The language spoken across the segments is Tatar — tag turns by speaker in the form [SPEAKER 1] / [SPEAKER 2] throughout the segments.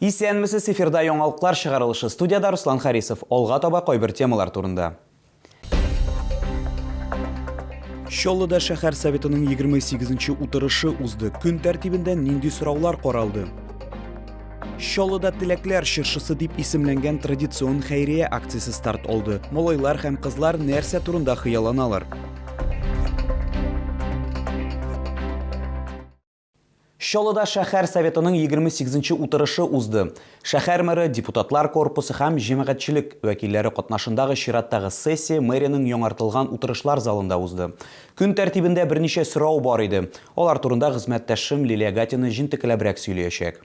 [SPEAKER 1] Исәнмесез, эфирда яңалыклар чыгарылышы, студиядә Руслан Харисов, алга таба кайбер темалар турында. Чаллыда шәһәр советының 28 нче утырышы узды. Көн тәртибендә нинди сораулар каралды? Чаллыда теләкләр чыршысы дип исемләнгән традицион хәйрия акциясе старт алды. Малайлар һәм кызлар нәрсә турында хыялланалар? Чаллыда шәһәр Советының егерме сигезенче утырышы узды. Шәһәр мэры, депутатлар корпусы һәм җәмәгатьчелек вәкилләре катнашындагы чираттагы сессия мэриянең яңартылган утырышлар залында узды. Көн тәртибендә берничә сорау бар иде. Алар турында хезмәттәшем Лилия Гатина җентекләбрәк сөйләячәк.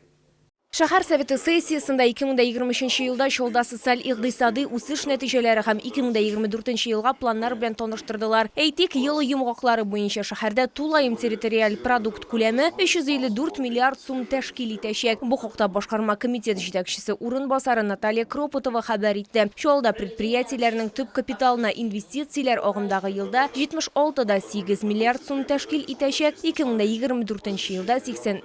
[SPEAKER 1] Шәһәр
[SPEAKER 2] Советы сессиясендә 2023 елда Чаллыда социаль-икъдисади үсеш нәтиҗәләре һәм 2024 елга планнар белән таныштырдылар. Әйтик, ел йомгаклары буенча шәһәрдә тулаем территориаль продукт күләме 354 миллиард сум тәшкил итәчәк. Бу хакта башкарма комитет җитәкчесе урынбасары Наталья Кропотова хәбәр итте. Чаллыда предприятиеләрнең төп капиталына инвестицияләр агымдагы елда 76 да 8 миллиард сум тәшкил итәчәк, 2024 елда 80.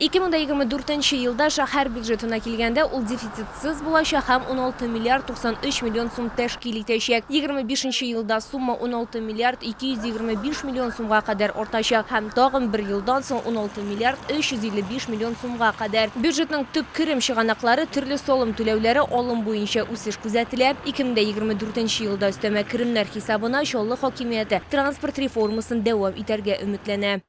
[SPEAKER 3] Ике мең дә егерме дүртенче
[SPEAKER 2] елда шәһәр бюджетына килгәндә, ул дефицитсыз булачак һәм уналты миллиард туксан өч миллион сум тәшкил итәчәк. Егерме бишенче елда сумма уналты миллиард ике йөз егерме биш миллион сумга кадәр артачак һәм тагын бер елдан соң уналты миллиард өч йөз илле биш миллион сумга кадәр. Бюджетның төп керем чыганаклары, төрле салым түләүләре алым буенча үсеш күзәтелә. Ике мең дә егерме дүртенче елда өстәмә керемнәр хисабына Чаллы хакимияте транспорт реформасын дәвам итәргә өметләнә.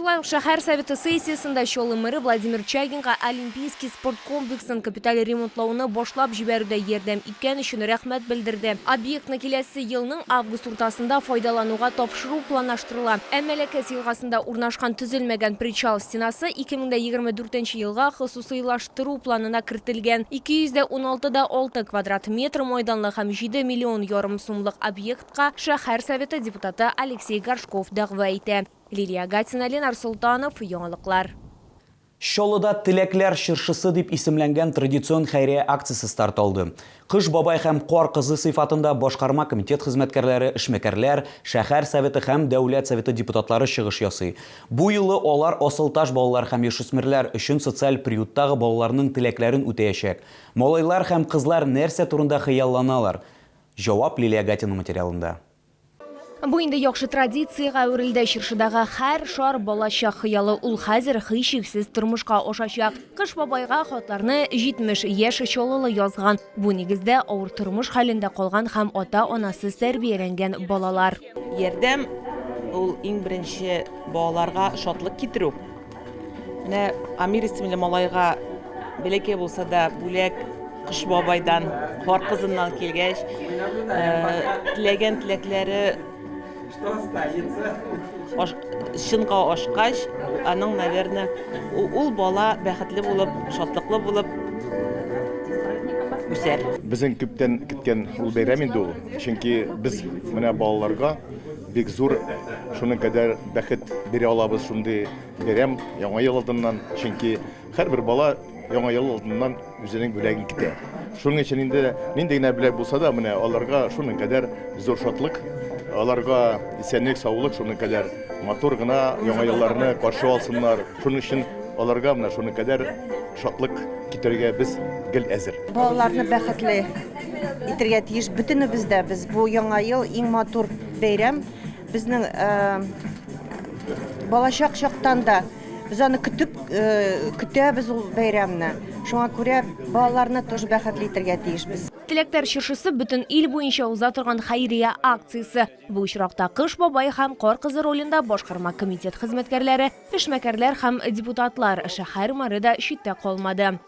[SPEAKER 4] Шулай ук шәһәр
[SPEAKER 2] Советы сессиясендә Чаллы мэры Владимир Чагинга Олимпийский спорт комплексын капиталь ремонтлауны башлап җибәрүдә ярдәм иткән өчен рәхмәт белдерде. Объектны киләсе елның август уртасында файдалануга тапшыру планлаштырыла. Ә Мәләкәс елгасында урнашкан төзелмәгән причал стенасы 2024 нче елга хосусыйлаштыру планына кертелгән 216 дә 6 квадрат метр майданлы һәм 7 миллион ярым сумлык объектка шәһәр Советы депутаты Алексей Горшков дәгъва итә. Лилия Гатина, Ленар Солтанов, Яңалыклар.
[SPEAKER 1] Чаллыда Теләкләр чыршысы дип исемләнгән традицион хәйрия акциясе старт алды. Кыш бабай һәм Кар кызы сыйфатында башкарма комитет хезмәткәрләре, эшмәкәрләр, шәһәр Советы һәм Дәүләт Советы депутатлары чыгыш ясый. Бу юлы алар Асылташ балалар һәм яшүсмерләр өчен социаль приюттагы балаларның теләкләрен үтәячәк. Малайлар һәм кызлар нәрсә турында хыялланалар? Җавап Лилия Гатина материалында. Бу
[SPEAKER 2] инде яхшы традициягә әверелде. Чыршыдагы һәр шар балачак хыялы. Ул хәзер һичшиксез тормышка ашачак. Кыш бабайга хатларны 70 яшь Чаллылы язган. Бу, нигездә, авыр тормыш хәлендә калган һәм ата-анасыз тәрбияләнгән балалар. Ярдәм,
[SPEAKER 5] ул иң беренче балаларга шатлык китерү. Менә Амир исемле малайга бәләкәй булса да бүләк Кыш бабайдан, кар кызыннан килгәч, теләгән теләкләре чынга ашкач, аның, наверное, ул бала бәхетле булып, шатлыклы булып үсәр. Безнең күптән
[SPEAKER 6] көткән ул бәйрәм инде ул. Чөнки без менә балаларга Бик зур, шуның кадәр бәхет бирә алабыз шундый бәйрәм Яңа ел алдыннан, чөнки һәрбер бала Яңа ел алдыннан үзенең бүләген көтә. Шуның өчен инде нинди генә бүләк булса да, менә аларга шуның кадәр зур шатлык, аларга исәнлек, саулык, шуның кадәр матур гына Яңа елларны каршы алсыннар. Шуның өчен аларга менә шуның кадәр шатлык китерергә без гел әзер. Балаларны бәхетле
[SPEAKER 7] Әйтергә тиеш, бөтенебез дә без бу яңа ел иң матур бәйрәм. Безнең э, балачак чактан да без аны көтеп э, көтәбез ул бәйрәмне. Шуңа күрә балаларны тоже бәхетле итәргә тиешбез. Теләктәр
[SPEAKER 2] чыршысы бөтен ил буенча уза торган хәйрия акциясе. Бу очракта Кыш бабай һәм Кар кызы ролендә башкарма комитет хезмәткәрләре, эшмәкәрләр һәм депутатлар, шәһәр мэры да читтә калмады.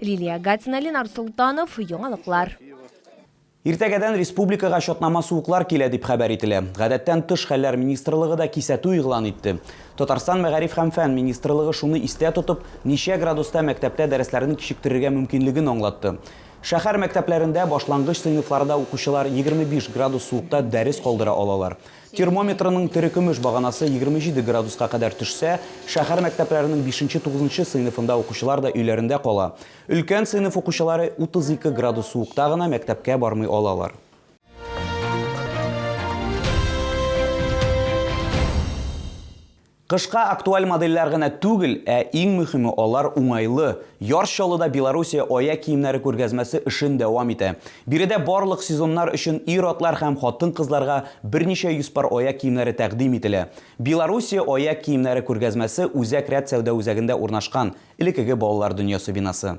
[SPEAKER 2] Лилия Гатина, Ленар Солтанов, Яңалыклар.
[SPEAKER 1] Иртәгәдән республикага чатнама суыклар килә дип хәбәр ителә. Гадәттән тыш хәлләр министрлыгы да кисәтү игълан итте. Татарстан мәгариф һәм фән министрлыгы шуны истә тотып, ничә градуста мәктәптә дәресләрне кичектерергә мөмкинлеген аңлатты. Шәһәр мәктәпләрендә башлангыч сыйныфларда укучылар 25 градус суыкта дәрес калдыра алалар. Термометрының терекөмеш баганасы егерме җиде градуска кадәр төшсә, шәһәр мәктәпләренең бишенче-тугызынчы сыйныфында укучылар да өйләрендә кала. Өлкән сыйныф укучылары утыз ике градус суыкта гына мәктәпкә бармый алалар. Кышка актуаль модельләр генә түгел, ә иң мөхиме, алар уңайлы. Яр Чаллыда Белоруссия аяк киемнәре күргәзмәсе эшен дәвам итә. Биредә барлык сезоннар өчен ир-атлар һәм хатын-кызларга берничә йөз пар аяк киемнәре тәкъдим ителә. Белоруссия аяк киемнәре күргәзмәсе Үзәк рәт сәүдә үзәгендә урнашкан, элекеге балалар дөньясы бинасы.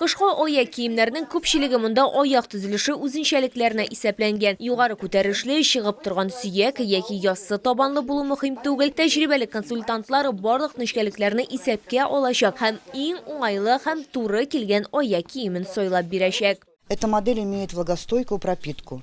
[SPEAKER 8] Кышкы аяк
[SPEAKER 2] киемнәрнең күпчелеге монда аяк төзелеше үзенчәлекләренә исәпләнгән. Югары күтәрешле, чыгып торган сөяк яки яссы табанлы булу мөһим түгел. Тәҗрибәле консультантлар барлык нечкәлекләрне исәпкә алачак һәм иң уңайлы һәм туры килгән аяк киемен сайлап бирәчәк. Эта модель имеет
[SPEAKER 9] влагостойкую пропитку,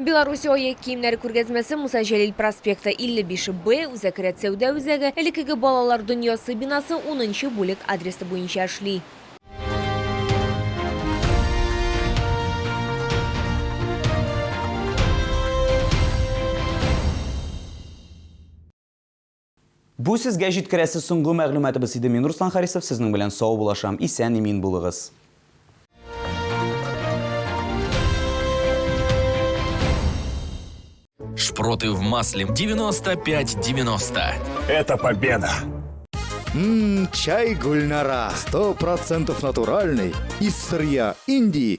[SPEAKER 10] Белоруссия аяк
[SPEAKER 2] киемнәре күргәзмәсе Муса Җәлил проспекты, 55 Б, Үзәк рәтсәүдә үзәге, элеккеге Балалар дөньясы бинасы, унынчы бүлек адресы буенча эшли.
[SPEAKER 1] Бу сезгә җиткерәсе соңгы мәгълүматыбыз иде, мин Руслан Харисов сезнең белән саубулашам, исән имин булыгыз.
[SPEAKER 11] Шпроты в масле 95-90. Это
[SPEAKER 12] победа! Ммм,
[SPEAKER 13] чай Гульнара. Сто процентов натуральный. Из сырья Индии.